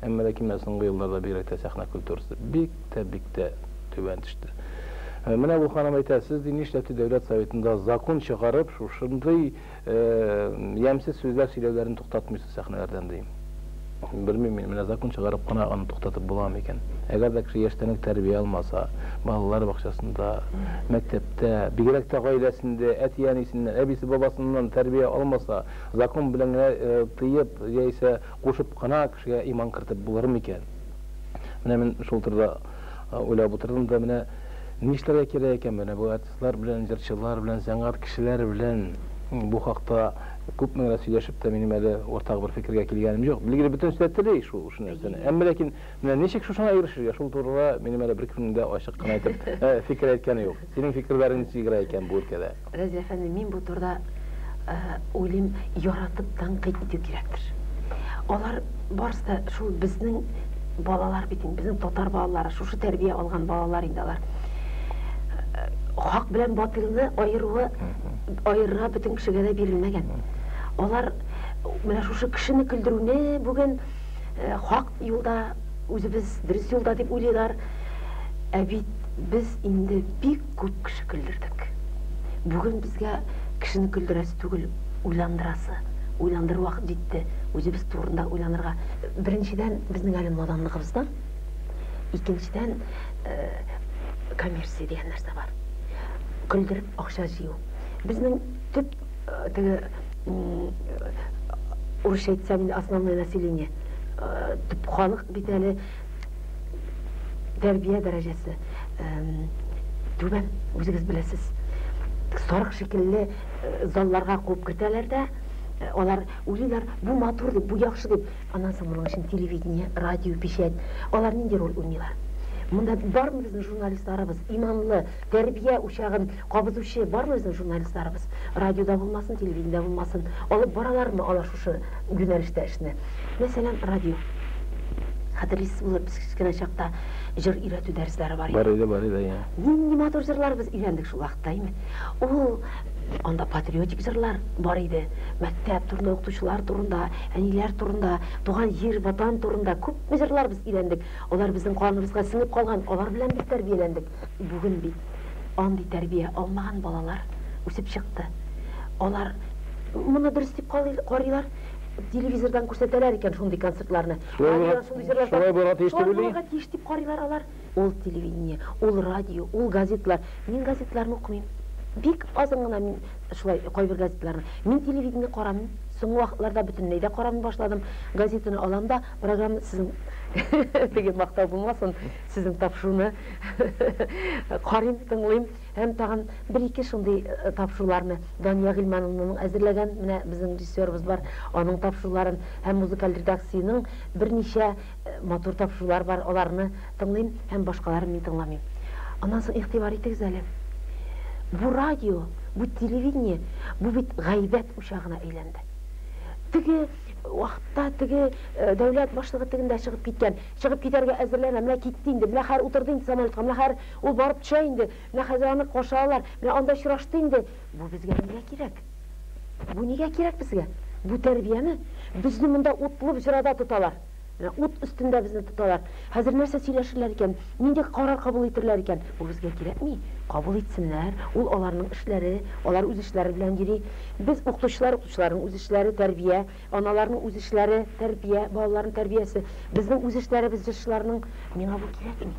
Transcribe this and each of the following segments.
Әмма ләкин менә соңгы елларда бигрәк тә сәхнә культурасы бик тә, бик тә түбән төште. Менә бу ханым әйтә, сез ди нишләптер Дәүләт Советында закон чыгарып, шушындый ямьсез сүзләр сөйләүләрен туктатмыйсыз сәхнәләрдән, ди. Белмим мин, менә закон чыгарып кына аны туктатып буламы икән. Әгәр дә кеше яшьтән үк тәрбия алмаса, балалар бакчасында, мәктәптә, бигрәк тә гаиләсендә, әти-әнисеннән, әбисе-бабасыннан тәрбия алмаса, закон белән генә тыеп яисә Кушып кына кешегә иман кертеп булыр микән? Менә мин шул турыда уйлап утырдым да, менә нишләргә кирәк икән? Менә бу артистлар белән, җырчылар белән, сәнгать кешеләре белән бу хакта күпме генә сөйләшеп тә, минем әле уртак бер фикергә килгәнем юк. Билгеле, бөтенесе дә тели шул нәрсәне. Әмма ләкин Менә ничек шушыңа ирешергә, шул турыда минем әле беркемнең дә ачык кына итеп фикер әйткәне юк. Синең фикерләрең ничек игъра икән бу өлкәдә? Разил әфәнде, мин бу турыда уйлыйм, яратып тәнкыйть итү кирәктер. Алар барысы да шул безнең балалар бит инде, безнең татар балалары, шушы тәрбия алган балалар инде алар. Хак белән батылны аеруы, аерырга бөтен кешегә дә бирелмәгән. Алар менә шушы кешене көлдерүне бүген э, хак юлда, үзебез дөрес юлда дип уйлыйлар. Ә бит без инде бик күп кеше көлдердек. Бүген безгә кешене көлдерәсе түгел, уйландырасы. Уйландыр вакыт җитте, үзебез турында уйланырга. Беренчедән, безнең әле наданлыгыбыздан, икенчедән, э, коммерция дигән нәрсә бар. Көлдереп акча җыю. Безнең төп теге урысча әйтсәм инде основное население төп халык бит әле тәрбия дәрәҗәсе түбән үзегез беләсез сарык шикелле залларга куып кертәләр дә алар уйлыйлар бу матур дип бу яхшы дип аннан соң моның өчен телевидение радио печать алар нинди роль уйныйлар монда бармы безнең журналистларыбыз иманлы Тәрбия учагын кабызучы бармы безнең журналистларыбыз? Радиода булмасын, телевидениедә булмасын, алып баралармы алар шушы юнәлештә эшне? Мәсәлән, радио. Хәтерлисез булыр, без кечкенә чакта җыр өйрәтү дәресләре бар иде. Бар иде, бар иде, иә. Нинди матур җырлар без өйрәндек шул вакытта, әйме? Ул анда патриотик җырлар бар иде. Мәктәп турында, укытучылар турында, әниләр турында, туган җир, Ватан турында күпме җырлар без өйрәндек. Алар безнең каныбызга сеңеп калган, алар белән без тәрбияләндек. Бүген бит андый тәрбия алмаган балалар үсеп чыкты. Алар моны дөрес дип карыйлар, телевизордан күрсәтәләр икән шундый концертларны. Шулай булырга тиеш дип уйлый. Шулай тиеш дип карыйлар алар. Ул телевидение, ул радио, ул газетлар. Мин газетларны укымыйм. Бик азын гына мин шулай кайбер газетларны. Мин телевидение карамыйм. Соңгы вакытларда бөтенләй дә карамый башладым. Газетаны алам да, программа сезнең теге мактау булмасын. Сезнең тапшыруны карыйм, тыңлыйм һәм тагын бер-ике шундый тапшыруларны Дания Гыйльмановнаның әзерләгән, менә безнең режиссерыбыз бар, аның тапшыруларын һәм музыкаль редакциянең берничә матур тапшырулар бар, аларны тыңлыйм һәм башкаларын мин тыңламыйм. Аннан соң игътибар итегез әле. Бу радио, бу телевидение, бу бит гайбәт учагына әйләнде. Теге вакытта теге дәүләт башлыгы тегендә чыгып киткән Чыгып китәргә әзерләнә. Менә китте инде. Менә хәер утырды инде самолетка. Менә хәер ул барып төшә инде. Менә хәзер аны каршы алалар. Менә анда очрашты инде. Бу безгә нигә кирәк? Бу нигә кирәк безгә? Бу тәрбияме? Безне монда утлы боҗрада тоталар. Менә ут өстендә безне тоталар. Хәзер нәрсә сөйләшерләр икән? Нинди карар кабул итерләр икән? Бу безгә кирәкми. Кабул итсеннәр. Ул аларның эшләре. Алар үз эшләре белән йөри. Без, укытучылар, укытучыларның үз эшләре, тәрбия. Аналарның үз эшләре, тәрбия, балаларның тәрбиясе. Безнең үз эшләребез җырчыларның, миңа бу кирәкми.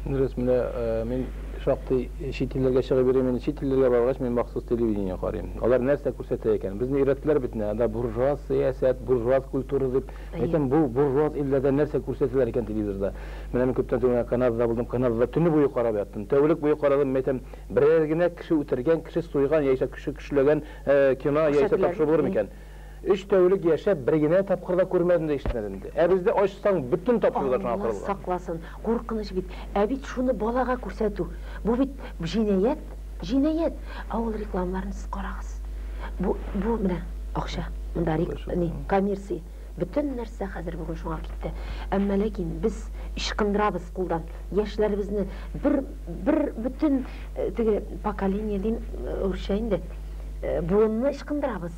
Дөрес, менә мин шактый чит илләргә чыгып йөрим, инде чит илләргә баргач, мин махсус телевидение карыйм. Алар нәрсә күрсәтә икән? Безне өйрәттеләр бит менә, анда буржуаз сәясәт, буржуаз культура дип. Әйтәм, бу буржуаз илләрдә нәрсә күрсәтәләр икән телевизорда? Менә мин күптән түгел генә Канадада булдым, Канадада төне буе карап яттым. Тәүлек буе карадым, мин әйтәм, берәр генә кеше үтергән, кеше суйган яисә кеше көчләгән Кина яисә тапшыру булыр микән? Өч тәүлек яшәп, бер генә тапкыр да күрмәдем дә ишетмәдем дә. Ә бездә ачсаң, бөтен тапшырулар шуңа корылган. Алла сакласын, куркыныч бит. Ә бит шуны балага күрсәтү, бу бит җинаять, җинаять. Авыл рекламаларын сез карагыз. Бу, бу менә акча. Монда рек, ни, коммерция. Бөтен нәрсә хәзер бүген шуңа китте. Әмма ләкин без ычкындырабыз кулдан. Яшьләребезне бер бер бөтен э, теге поколение дим э, үрчә инде. Э, буынны ычкындырабыз.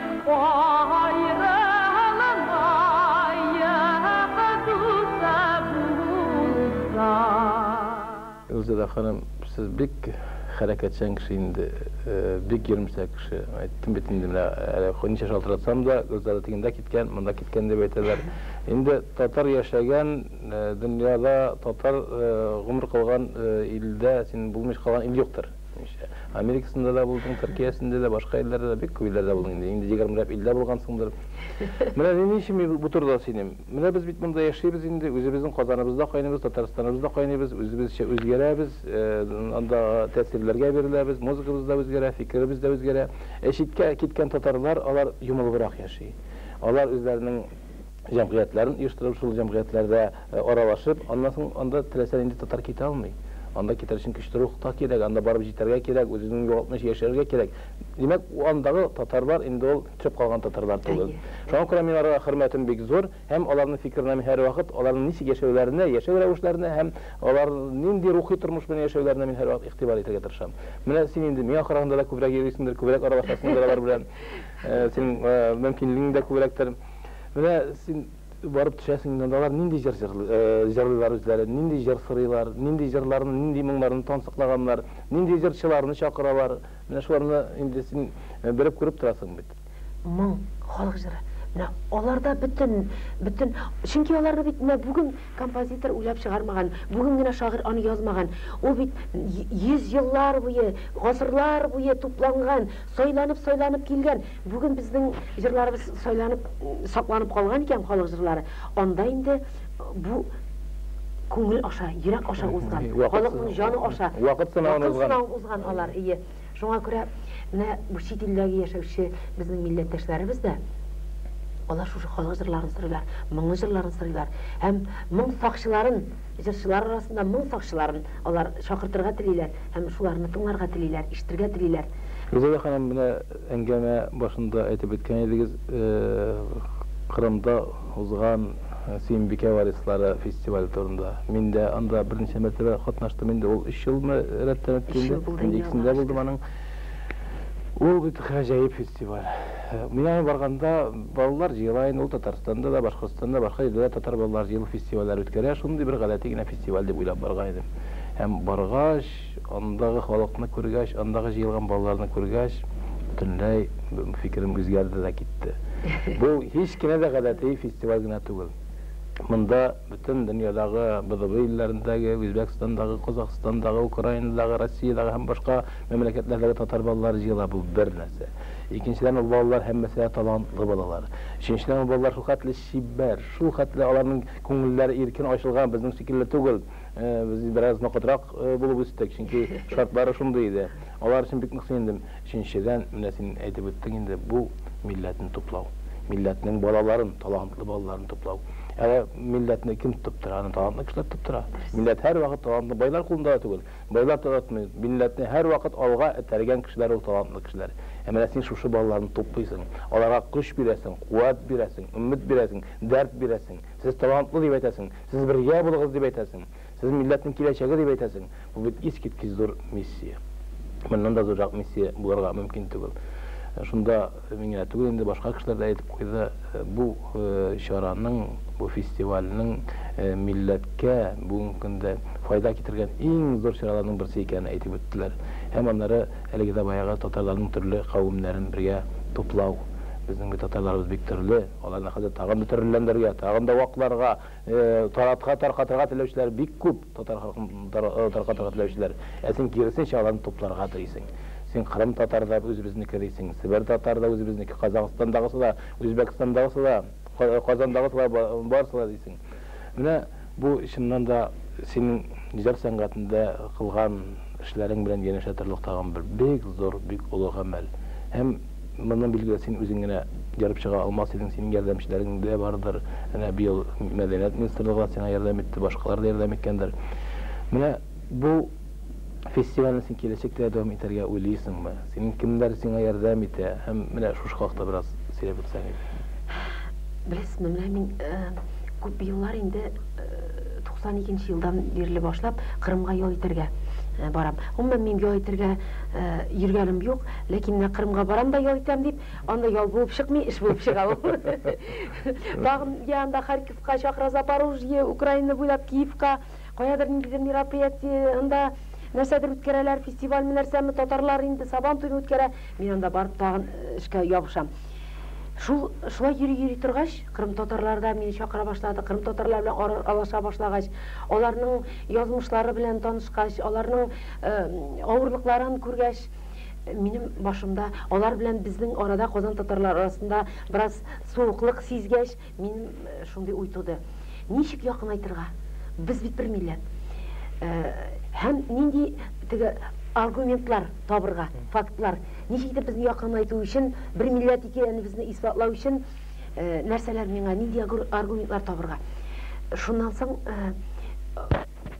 Илзирә ханым, сез бик хәрәкәтчән кеше инде, бик йөремсә кеше. Әйттем бит инде менә әле ничә шалтыратсам да, Гөлзада тегендә киткән, монда киткән дип әйтәләр. Инде татар яшәгән дөньяда, татар гомер кылган илдә син булмыйча калган ил юктыр. Америкасында да булдың, Төркиясендә дә, башка илләрдә дә, бик күп илләрдә булдың инде. Инде егермеләп иллә булгансыңдыр. Менә ни өчен мин бу турыда сөйлим. Менә без бит монда яшибез инде, үзебезнең Казаныбызда кайныйбыз, Татарстаныбызда кайныйбыз, үзебезчә үзгәрәбез, андагы тәэсирләргә биреләбез, музыкабыз да үзгәрә, фикеребез дә үзгәрә. Ә читкә киткән татарлар, алар йомылыбрак яши. Алар үзләренең җәмгыятьләрен оештырып, шул җәмгыятьләрдә аралашып, аннан соң анда теләсә нинди татар китә алмый. Анда китәр өчен көчле рух та кирәк, анда барып җитәргә кирәк, үзеңне югалтмыйча яшәргә кирәк. Димәк, андагы татарлар инде ул төшеп калган татарлар түгел. Шуңа күрә мин аларга хөрмәтем бик зур һәм аларның фикеренә мин һәрвакыт, аларның ничек яшәүләренә, яшәү рәвешләренә һәм алар нинди рухи тормыш белән яшәүләренә мин һәрвакыт игътибар итәргә тырышам. Менә син инде миңа караганда да күбрәк йөрисеңдер, күбрәк аралашасыңдыр алар белән. Синең мөмкинлегең дә күбрәктер. Менә син барып төшәсең инде, анда алар нинди җыр җырлыйлар үзләре, нинди җыр сорыйлар, нинди җырларны, нинди моңнарны тансыклаганнар, нинди җырчыларны чакыралар. Менә шуларны инде син белеп күреп торасың бит. Моң, халык җыры. Менә аларда бөтен, бөтен, чөнки аларны бит менә бүген композитор уйлап чыгармаган, бүген генә шагыйрь аны язмаган. Ул бит йөз еллар буе, гасырлар буе тупланган, сайланып-сайланып килгән Бүген безнең җырларыбыз сайланып, сакланып калган икән халык җырлары. Анда инде бу күңел аша, йөрәк аша узган, халыкның җаны аша. Вакыт сынавын узган. Вакыт сынавын узган алар, ие. Шуңа күрә менә бу чит илләге яшәүче безнең милләттәшләребез дә алар шушы халык җырларын сырыйлар, моңлы җырларын сырыйлар. Һәм моң сакчыларын, җырчылар арасында моң сакчыларын алар чакыртырга телиләр һәм шуларны тыңларга телиләр, ишетергә телиләр. Гүзәлия ханым, менә Әңгәмә башында әйтеп үткән идегез, Кырымда узган Сөембикә варислары фестивале турында. Мин дә анда берничә мәртәбә катнаштым инде, ул өч елмы рәттән үтте инде. Өч ел булды инде аңа. Икесендә булдым аның. Ул бит гаҗәеп фестиваль. Мин аңа барганда, балалар җыела инде, ул Татарстанда да, Башкортстанда да, башка җирдә дә татар балалары җыелып фестивальләр үткәрә, шундый бер гадәти генә фестиваль дип уйлап барган идем. Һәм баргач. Андагы халыкны күргәч, андагы җыелган балаларны күргәч, бөтенләй фикерем үзгәрде дә китте. Бу һич кенә дә гадәти фестиваль генә түгел. Монда бөтен дөньядагы, БДБ илләрендәге, Үзбәкстандагы, Казахстандагы, Украинадагы, Россиядәге һәм башка мәмләкәтләрдәге татар балалары җыела. Бу бер нәрсә. Икенчедән, ул балалар һәммәсе дә талантлы балалар. Өченчедән, ул балалар шулхәтле чибәр, шулхәтле аларның күңелләре иркен ачылган, безнең шикелле түгел. Без бераз ноктатрак булып үстек, чөнки шартлары шундый иде. Алар өчен бик нык сөендем. Өченчедән, менә син әйтеп үттең инде, бу, милләтне туплау. Милләтнең балаларын, талантлы балаларын туплау. Ә милләтне кем тотып тора? Аны талантлы кешеләр тотып тора. Милләт һәрвакыт талантлы байлар кулында да түгел. Байлар таратмый. Милләтне һәрвакыт алга этәргән кешеләр ул талантлы кешеләр. Ә менә син шушы балаларны туплыйсың, аларга көч бирәсең, куәт бирәсең, өмет бирәсең, дәрт бирәсең. Сез талантлы дип әйтәсең. Сез бергә булыгыз дип әйтәсең. Сез милләтнең киләчәге дип әйтәсең. Бу бит искиткеч зур миссия. Моннан да зуррак миссия булырга мөмкин түгел. Шунда мин генә түгел инде, башка кешеләр дә әйтеп куйды, бу чараның, бу фестивальнең милләткә бүгенге көндә файда китергән иң зур чараларның берсе икәнен әйтеп үттеләр. Һәм аннары әлеге дә баягы татарларның төрле кавемнәрен бергә туплау. Безнең бит татарларыбыз бик төрле. Аларны хәзер тагын да терелләндерергә, тагын да вакларга, таратырга, таркатырга теләүчеләр бик күп, татар халкын таркатырга теләүчеләр. Ә син киресенчә аларны тупларга телисең. Син Кырым татары да үзебезнеке дисең, Себер татары да үзебезнеке, Казахстандагысы да, Үзбәкстандагысы да, Казандагысы да, барысы да дисең. Менә. Бу, чыннан да, синең иҗат сәнгатендә кылган эшләрең белән янәшә торырлык тагын бер бик зур, бик олы гамәл. Һәм моны, билгеле, син үзең генә ярып чыга алмас идең, синең ярдәмчеләрең дә бардыр. Әнә быел Мәдәният министрлыгы да сиңа ярдәм итте, башкалар да ярдәм иткәндер. Менә бу. Фестивальне син киләчәктә дә дәвам итәргә уйлыйсыңмы? Синең кемнәр сиңа ярдәм итә? Һәм менә шушы хакта бераз сөйләп үтсәң иде. Беләсезме, менә мин күп еллар инде, 92 нче елдан бирле башлап, Кырымга ял итәргә барам. Гомумән, мин ял итәргә йөргәнем юк, ләкин менә Кырымга барам да ял итәм дип, анда ял булып чыкмый, эш булып чыга ул. Тагын, йә анда Харьковка, чакыра Запорожье, Украина буйлап Киевка. Каядыр ниндидер мероприятиеһн да нәрсәдер үткәрәләр, фестивальме нәрсәме, татарлар инде Сабан туен үткәрә. Мин анда барып тагын э, эшкә ябышам. Шул шулай йөри-йөри торгач, кырым татарлары да мине чакыра башлады. Кырым татарлары белән ара- алаша башлагач, аларның язмышлары белән танышкач, аларның э, авырлыкларын күргәч, минем башымда алар белән безнең арада Казан татарлары арасында бераз суыклык сизгәч, Мин шундый уй туды. Ничек якынайтырга? Без бит бер милләт. Һәм нинди теге аргументлар табырга, фактлар? Ничек итеп безне якынайту өчен, бер милләт икәнебезне исбатлау өчен нәрсәләр миңа, нинди аргументлар табырга? Шуннан соң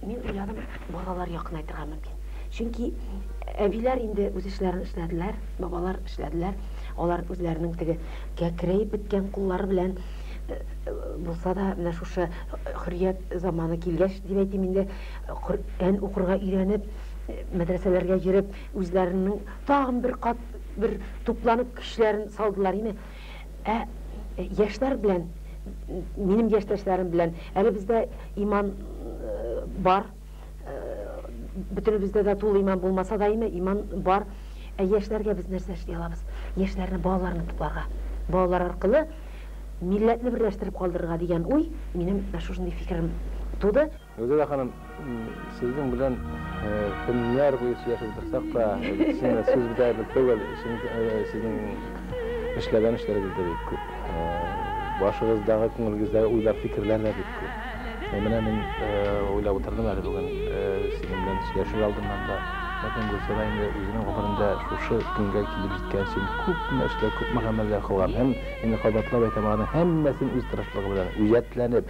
Мин уйладым, балалар якынайтырга мөмкин. Чөнки әбиләр инде үз эшләрен эшләделәр, бабалар эшләделәр. Алар үзләренең теге кәкрәеп беткән куллары белән э, булса да менә шушы хөррият заманы килгәч дип әйтим инде Коръән укырга өйрәнеп мәдрәсәләргә йөреп үзләренең тагын бер кат бер тупланып көчләрен салдылар име Ә яшьләр белән, минем яшьтәшләрем белән, әле бездә иман бар, бөтенебездә дә тулы иман булмаса да име, иман бар. Ә яшьләргә без нәрсә эшли алабыз? Яшьләрне балаларны тупларга, балалар аркылы милләтне берләштереп калдырырга дигән уй минем шушындый фикерем туды. Гөлзада ханым, сезнең белән көннәр буе сөйләшеп утырсак та, сине сүз бетә бер түгел, чөнки сезнең эшләгән эшләрегез дә бик күп. Башыгыздагы, күңелегездәге уйлар, фикерләр дә бик күп. Менә мин уйлап утырдым әле бүген сезнең белән сөйләшер алдыннан да. Ләкин Гөлзада инде үзенең гомерендә шушы көнгә килеп җиткән өчен күпме эшләр, күпме гамәлләр кылган. Һәм инде кабатлап әйтәм, аларның һәммәсен үз тырышлыгы белән, үҗәтләнеп,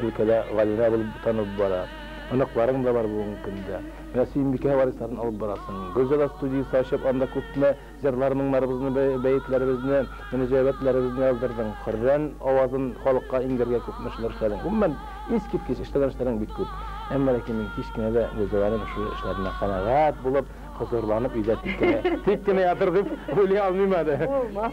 өлкәдә галимә булып танылып бара. Оныкларың да бар бүгенге көндә. Менә Сөембикә варисларын алып барасың. Гөлзада студиясе ачып, анда күпме җырлар-моңнарыбызны, бәетләребезне, мөнәҗәгатьләребезне яздырдың. Хөррән авазын халыкка иңдерергә күпме эшләр эшләдең. Гомумән, искиткеч эшләгән эшләрең бик күп. Әмма ләкин мин кич кенә дә Гөлзаданың шул эшләреннән канәгать булып, хозурланып өйдә тик кенә ятыр дип уйлый алмыйм әле. Булмас.